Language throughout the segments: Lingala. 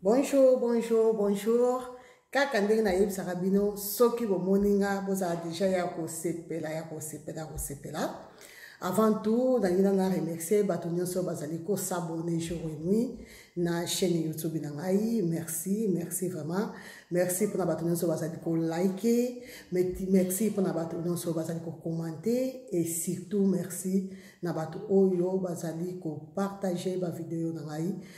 Bonjour, bonjour, bonjour. Kaka ndenge na yebisaka bino soki bomoni nga bozala deja ya kosepela ya kosepela ya kosepela. Avant tout, nalingi na remercier bato nyonso bazali ko s'abonner jour et nuit na chaîne YouTube na ngai. Merci, merci vraiment. Merci pona bato nyonso bazali ko liker, merci pona bato nyonso bazali ko commenter et surtout merci na bato oyo bazali ko partager ba video na ngai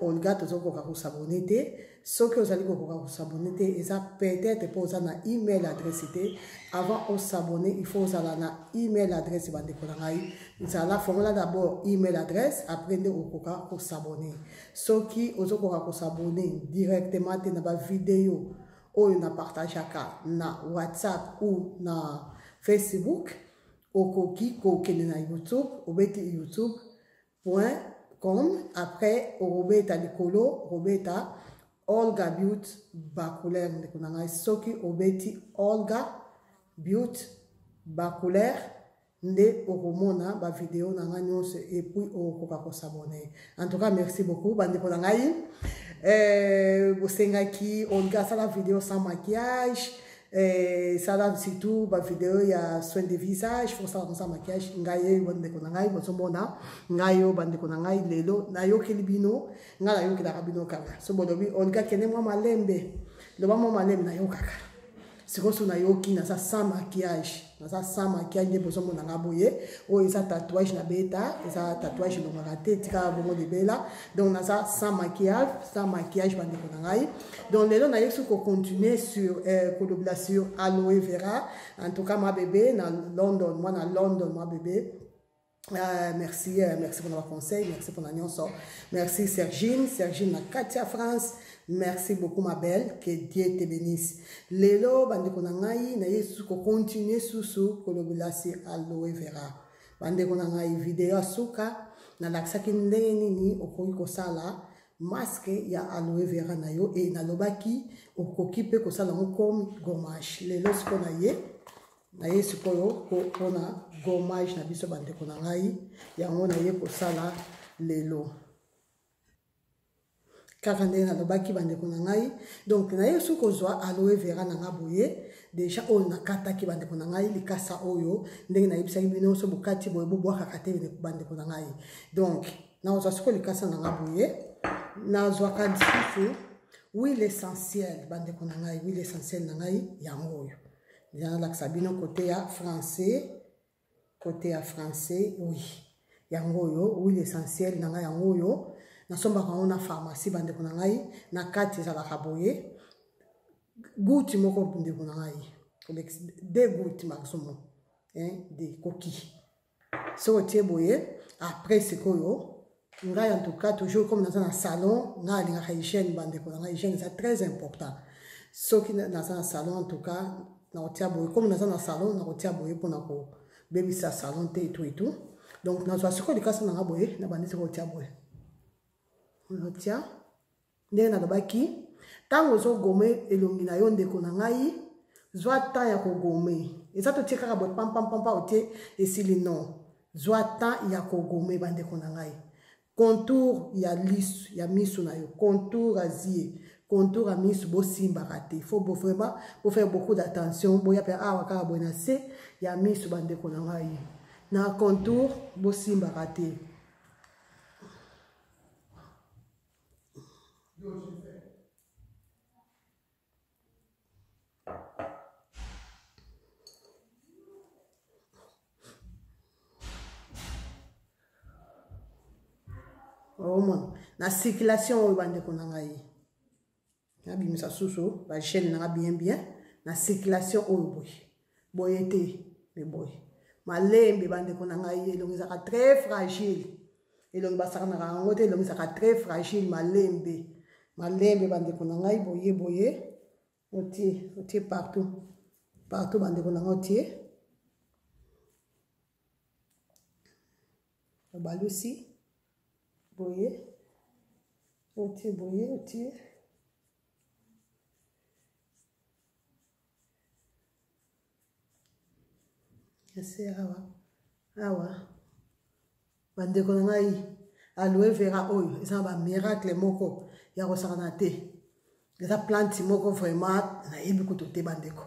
olga tozokoka kosabone te soki ozali kokoka kosabone te eza peut-être mpo oza na email adresse te avant osabone il faut ozala na email adresse bandeko na ngai zala fongola d'abord email adresse après nde okoka kosabone soki ozokoka kosabone directement te na bavideo oyo na partageaka na whatsapp ou na facebook okoki kokende na youtube obeti youtube point com après okobeta likolo okobeta olga beaut bacouleur ndeko na ngai soki obeti olga beaut bacouleur nde okomona bavideo na ngai nyonso epuis okokoka kosabone en tout cas merci beaucoup bandeko na ngai eh, bosengaki olga asala video sans maquillage Eh, sala surtout bavideo ya soin de visage fo osala kosa maquillage ngai ye bandeko na ngai bozomona ngai yo bandeko na ngai lelo nayokeli bino ngai nayokelaka bino kaka so bolobi olga kende mwa malembe loba mwa malembe nayokaka sikoyo so nayoki naza sans maquillage naza sans maquillage nde bozomona nga boye oyo eza tatouage na beta eza tatouage elongaka te etikaka bongo libela donc naza sans maquillage sans maquillage bandeko na ngai donc lelo nayebisi kocontinue sur euh, kolobela sur aloe vera en tout cas ma bebe na london mwana london ma bebe Ah, merci, euh, merci pour votre conseil, merci pour l'annonce. Merci Sergine, Sergine la Katia France. Merci beaucoup ma belle, que Dieu te bénisse. Lelo bande ko nangai na yesu ko continuer susu ko lobela si aloe vera. Bande ko nangai vidéo suka na laksaki ndenge nini okoki ko sala masque ya aloe vera na yo et na lobaki okoki pe ko sala comme gommage. Lelo siko na ye naye sikoyo mpona gomage na biso bandeko na ngai yango naye kosala lelo kaka ndenge nalobaki bandeko na ngai donc naye soki kozwa aloe vera na ngai boye deja oyo nakataki bandeko na ngai likasa oyo ndenge nayebisaki bino nyonso bokati boye bobwakaka te bandeko na ngai donc nakozwa siko likasa na ngai boye nazwaka lisusu huile essentielle bandeko na ngai huile essentielle na ngai yango oyo ya lakisa bino kote ya français kote ya français oui yango oyo oui l'essentiel na ngai yango oyo nasombaka yango na pharmacie bandeko na ngai na kati ezalaka boye gouti moko ndeko na ngai de gouti maximum de koki soki otie boye après sikoyo ngai en tout cas toujours comme naza na salon ngai alingaka hygiène bandeko na ngai hygiène eza très important soki naza na salon en tout cas nakotia boye comme naza na salon nakotia boye mpona kobebisa salon te etu etu donc nazwa sikoyo likasi na ngai boye nabandisi kotia boye natia ndenge nalobaki ntango ozogome elongi na yo ndeko na ngai zwa temps ya kogome eza totie kaka boye pampampampa otie esili non zwa temps ya kogome bandeko na ngai contour ya lisu ya misu na yo contour azie contour ya misu bosimbaka te fo bo vraiment bofaire beaucoup d'attention boya mpe awa kaka boye na se ya misu bandeko na ngai na contour bosimbaka te omona na circulation oyo bandeko na ngai nabimisa susu bachaine nanga bien bien na circulation oyo boye boye te me boye malembe bandeko na ngai elongi ezalaka très fragile elongi basakanaka yango te elongi ezalaka très fragile malembe malembe bandeko na ngai boye boye otie otie partout partout bandeko na ngai otie obalusi boye otie boye otie ese awa awa bandeko na ngai aloe vera oyo eza na bamiracle moko ya kosakana te eza plante moko vraiment nayebi kutu te bandeko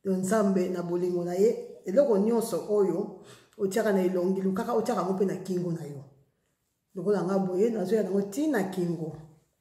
don nzambe na bolingo na ye eloko nyonso oyo otiaka na elongi lukaka otiaka yango mpe na kingo na yo lokola nga boye nazoya nango ntina kingo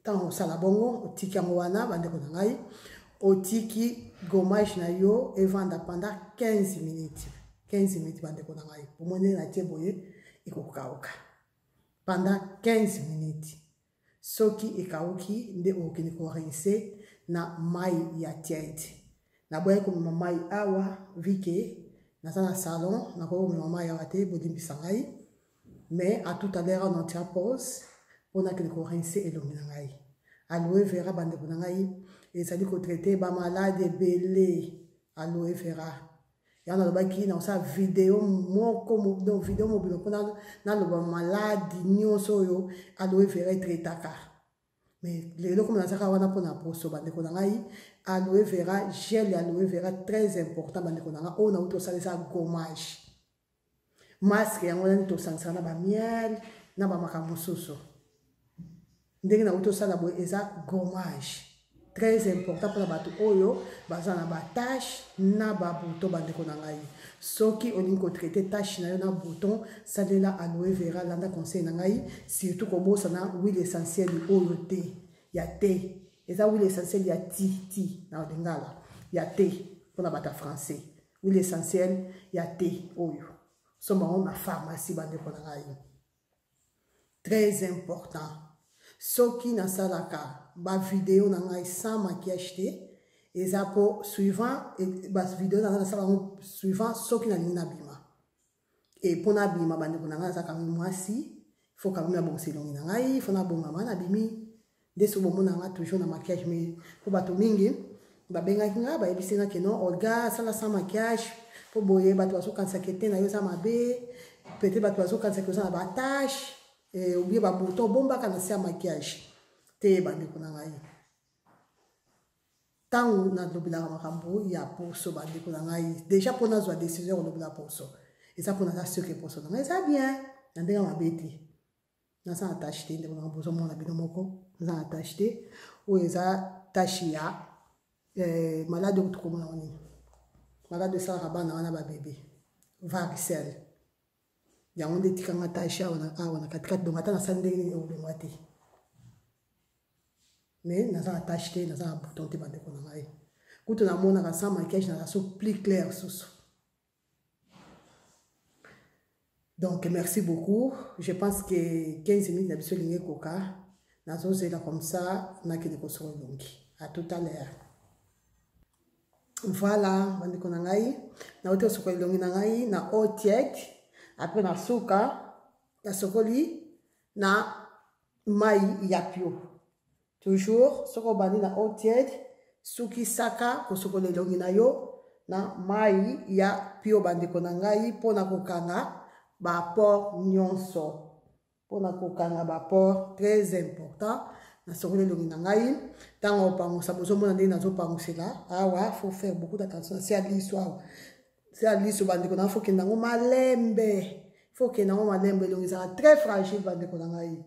ntango osala bongo otiki yango wana bandeko na ngai otiki gomage na yo evanda pendant 15 minutes 15 minutes bandeko na ngai omoni na tie boye ekokauka pendant 15 minutes soki ekauki nde okokende korinse na mai ya tiete naboyaki komema mai awa vike naza na salon nakoki komema mai awa te bolimbisa ngai mais à tout à l'heure on en tient pause mpo nakende korinse elongi na ngai aloe vera bandeko na ngai ezali kotraite bamalade ebele aloe vera yango nalobaki na kosala video moko donc video mobilo mpo naloba maladi nyonso oyo aloe vera etraitaka mais lelo komi nazaka wana mpo na poso bandeko na ngai aloe vera gel ya aloe vera très important bandeko na ngai oyo nauti osalisa gommage masque yango nani tosangisaka na bamiel na bamakambo mosusu ndenge na uti osala boye eza gommage très important mpona bato oyo baza na batache na babouton bandeko na ngai soki olingi kotraite tache na yo na bouton salela aloe vera landa conseil na ngai surtout kobosana huile essentiel oyo te ya te eza huile essentiel ya ti ti na lingala ya te mpona bato ya français huile essentielle ya te oyo soma yango na pharmacie bandeko na ngai très important soki nasalaka bavideo na ngai sans maquillage te eza mpo suivant bavideo na ngai nasala yango suivant soki nalingi nabima e mpo nabima bandeko na ngai aza kami mwasi fo kami nabongisa elongi na ngai fo nabongama nabimi nde so bomona ngai toujours na maquillage mai mpo bato mingi babengaki ngai bayebisi ngai keno olga asala sans maquillage mpo boye bato bazokanisaka ete na yo eza mabe peut-être bato bazokanisaka oza na batache eh, obie babouton obombaka na se ya maquillage te bandeko na ngai ntango nalobelaka makambo ya poso bandeko na ngai deja mpo nazwa décision ya kolobela poso eza mpo naza surke poso na ngai eza bien na ndenge mabe te naza na tache te ndeko na ngai bozomona bino moko naza na tache te oyo eza tache ya eh, maladi oyo tokomona wanini maladi esalaka bana wana babebe varicelle yango nde etika nga tache awa na awa na katikati donc ata nasali ndenge nini ekolongwa te mais naza na tache te naza na bouton te bandeko na ngai kutu namonaka sans maquillage naza so plus clair susu donc merci beaucoup je pense que 15 minutes na biso elingi ekoka nazozela comme ça nakende kosoko elongi à tout à l'heure voilà bandeko na ngai nauti kosukola elongi na ngai na eau tiède apres na suka nasokoli na mai ya pio toujours soki obandi na eau tiède sukisaka kosukola elongi na yo na mai ya pio bandeko na ngai mpo na kokanga bapore nyonso mpo na kokanga baport très important nasokoli elongi na ngai ntango opangusa bozomona ndenge nazopangusela awa fo faire beaucoup d'attention na se ya liso awa se ya liso bandeko na fo kenda yango malembe fo kenda yango malembe elongi ezala très fragile bandeko na ngai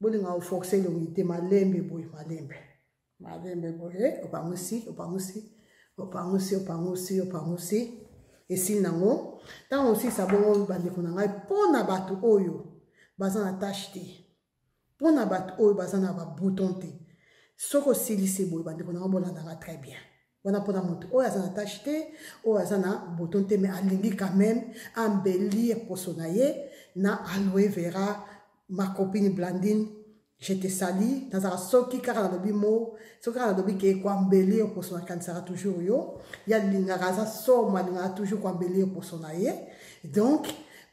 bolinga oforce elongi te malembe boye malembe Malembe boye opangusi opangusi opangusi opangusi opangusi esili nango ntango osilisa bongo bandeko na ngai mpo na bato oyo baza na tashe te mpo na bato oyo baza na babouton te soki osilisi boye bandeko na ngai bolandaka très bien wana mpona moto oyo aza na tache te oyo aza na boton te mai alingi quand même ambelir poso na ye na aloe vera ma copine blandine je te sali nazala soki kaka nalobi mo soki kaka nalobi ke koambelir poso nakanisaka toujours yo ye alingaka aza somo alingaka toujours koambelir poso na ye donc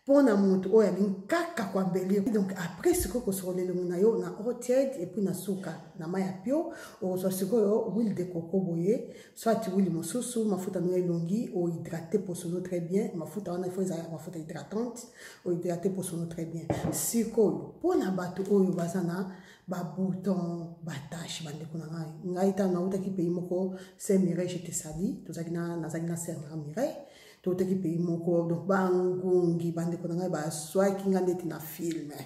mpo na moto oyo alingi kaka koambelir donc après sikoyo kosokola elongi na yo na eau tiède epuis na suka na mai ya pio okozwa sikoyo huile de coco boye soit huile mosusu mafuta no ya elongi ohydrate poso no très bien mafuta wana ifo ezalaka mafuta hydratante ohydrate poso no très bien sikoyo mpo na bato oyo baza na babouton batache bandeko na ngai ngai ntango nautaki pays moko saint mireille jete sali nazalaki na saint mireille totaki pays moko donc bangungi bandeko na ngai baswaki ngai ndeti na filme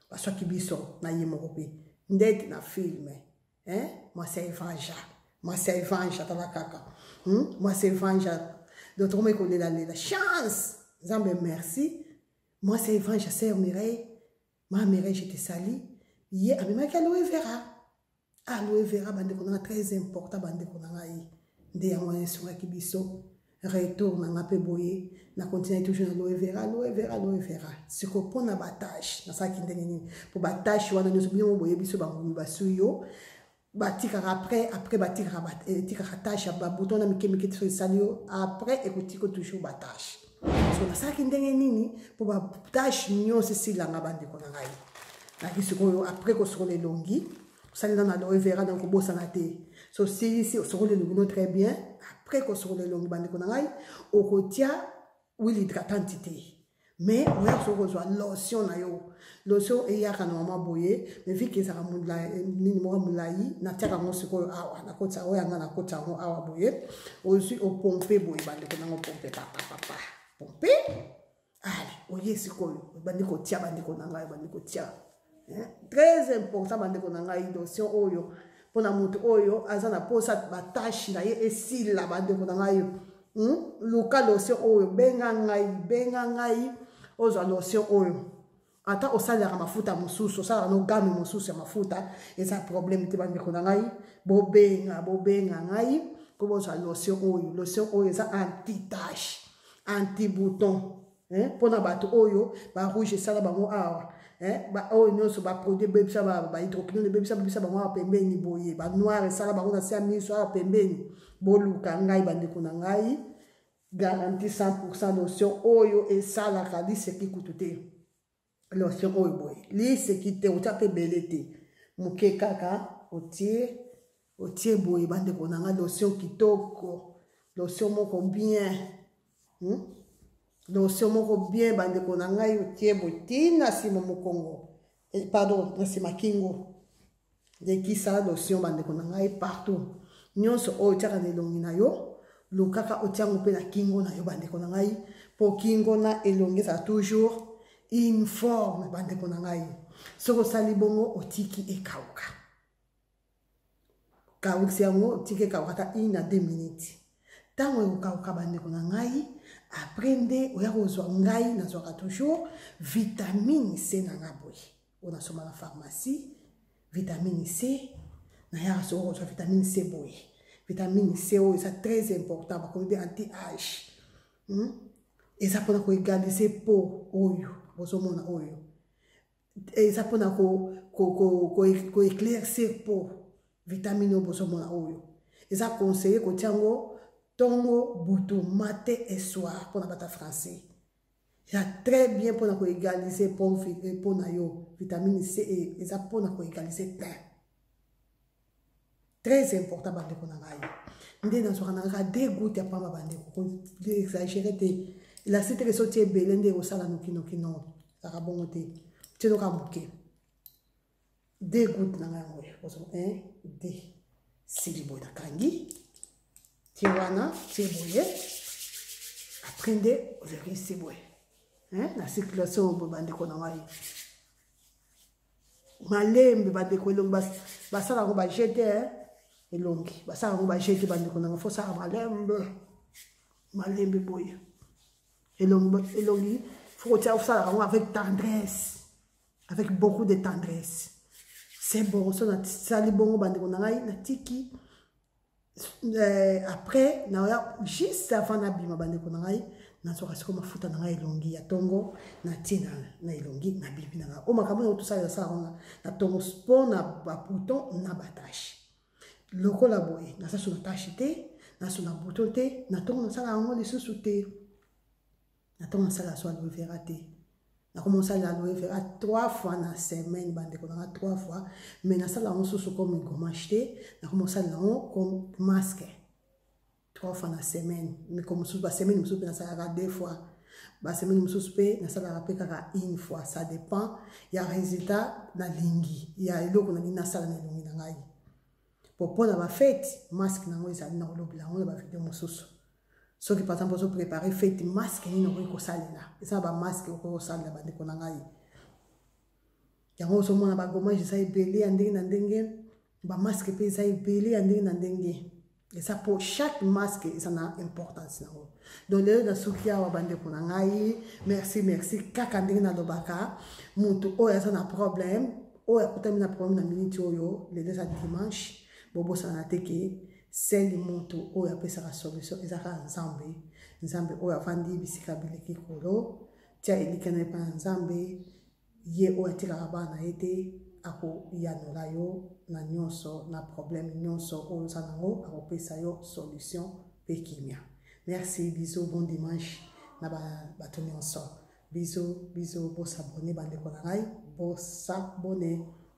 baswaki biso na ye moko mpe ndeti na filme eh? mwasi ya evanja mwasi ya evanja tala kaka hmm? mwasi ya evanja donc tokomai kolelalela chance nzambe merci mwasi ya evanja sœur mireille ma mireille je te sali ye amemaki aloe vera aloe vera bandeko na nga très important bandeko na ngai nde yango wana esungaki biso retour na nga mpe boye na continue toujours na aloe vera aloe vera aloe vera siko mpo na batage nasalaki ndenge nini mpo batage wana nyonso bino mo boyebi biso bangomi basui yo batikaka après après batikaka eh, etikaka tage ya babuto na mike mike tiso esali yo après ekotiko toujours batage so nasalaki ndenge nini mpo batashe nyonso esilanga bandeko na ngai naki sikoyo apres kosokola elongi osalina na loe vera donc obosana te so osilisi osokola elongi no très bien apres kosokola elongi bandeko na ngai okotia wili hydratante te mais oya kosoki kozwa lotion na yo lotion eyaka normalement boye mais vike ezaka nini moko molai natiaka yango sikoyo awa nakoti yango yanga nakoti yango awa boye ozwi opompe boye bandeko nango pompe papapapa pompe ale oye sikoyo obandi kotia bandeko na ngai obandi kotia très important bandeko na ngai lotion oyo mpo na moto oyo aza na mposa batashe na ye esila bandeko na ngai hmm? luka lotion oyo benga ngai benga ngai ozwa lotion oyo ata osalelaka mafuta mosusu osalaka no game mosusu ya mafuta eza problème te bandeko na ngai bobenga bobenga ngai mpo bozwa lotion oyo lotion oyo eza antitache antibouton eh, mpo na bato oyo barouge esala bango awa eh, oyo nyonso baproduit ebebisa bahydroquinone ebebisa bebisa bango awa pembeni boye banoir esala bango na se ya miso awa pembeni boluka ngai bandeko na ngai garanti 100 pourcent lotion oyo esalaka liseki kutu te lotion oyo boye liseki te otya mpe ebele te moke kaka otie otie boye bandeko na ngai lotion kitoko lotion moko bien hmm? lotion moko bien bandeko na ngai otie boye ntina nsima mokongo eh, pardon na nsima kingo lekisa lotion bandeko na ngai partout nyonso oyo otyaka na elongi na yo lukaka otyango mpe na kingo na yo bandeko na ngai mpo kingo na elongi ezala toujours informe bandeko na ngai soki osali bongo otiki ekauka kaukisi yango otiki ekauka ata une a deux minutes ntango ekokauka bandeko na ngai apres nde oya kozwa ngai nazwaka toujours vitamine c na nga boye oyo nasomba na pharmacie vitamine c nayaka soko kozwa vitamine c boye vitamine c oyo eza très important bakomi mpe anti age hmm? eza mpona koegalise po oyo bozomona oyo eza mpona koeclaircir ko, ko, ko, ko po vitamine oyo bozomona oyo eza conseille kotia yango ntongo butu mate eswar mpona bata français ya très bien mpona koegalise mpo na yo vitamine c e, eza mpona koegalise te très important bandeko na ngai nde nazwaka na kaka de gout ya mpamba bandeko koexagere te elasi teke so tie ebele nde ekosala nokinoki no kaka bongo te tinoka moke de gout na ngai yango ozo un de sili boye nakangi tie wana tie boye apres nde ozokisi boye na circulation boye bandeko na ngai malembe bandeko elongi basala yango bajete elongi basala yango bajete bandeko na ngai fosala malembe malembe boye elongi fokotia osalaka yango avec tendresse avec beaucoup de tendresse se boroso nasali bongo bandeko na ngai natiki euh, après naoya juste avant nabima bandeko na ngai nazwaka siko mafuta na ngai elongi ya ntongo natie na elongi nabimi na ngai oyo makambo na otusala nasala wana na ntongo mpo na bapouton na batashe lokola boye nasasu na tashe te naso na bouton te na ntongo nasala yango lisusu te natoma sala so aloe vera te nakoma osala aloe vera trois fois na semaine bandeko nanga trois fois mais nasala yango susu comme gommage te nakoma osala yango comme masque trois fois na semaine miko mosusu basemaine mosusu mpe nasalaka deux fois basemaine mosusu mpe nasalaka mpe kaka une fois ça dépend ya résultat nalingi ya eloko nalingi nasala na elongi na ngai po mpo na bafete masque na yango ezali na kolobela yango na bavideo mosusu soki par exemple ozo prépare fete masque nini okoki kosalela eza bamasque okoki kosalela bandeko na ngai yango ozomona bagomage eza ebele ya ndenge na ndenge bamasque mpe eza ebele ya ndenge na ndenge eza mpo chaque masque eza na importance yango donc lelo nasuki awa bandeko na ngai merci merci kaka ndenge nalobaka moto oyo aza na problème oyo akutami na problème na miniti oyo lelo eza dimanche bobosana te ke Seli mutu oyo apesaka solution eza kaka Nzambe. Nzambe oyo avandi bisika bileki kolo. Tia elikya na epa na Nzambe. Ye oyo atikaka bana ye te akoyanola yo na nyonso na problème nyonso oyo oza nango akopesa yo solution pe kimia. Merci bisous bon dimanche na ba bato nyonso. Bisous bisous bo s'abonner bandeko na ngai bo s'abonner.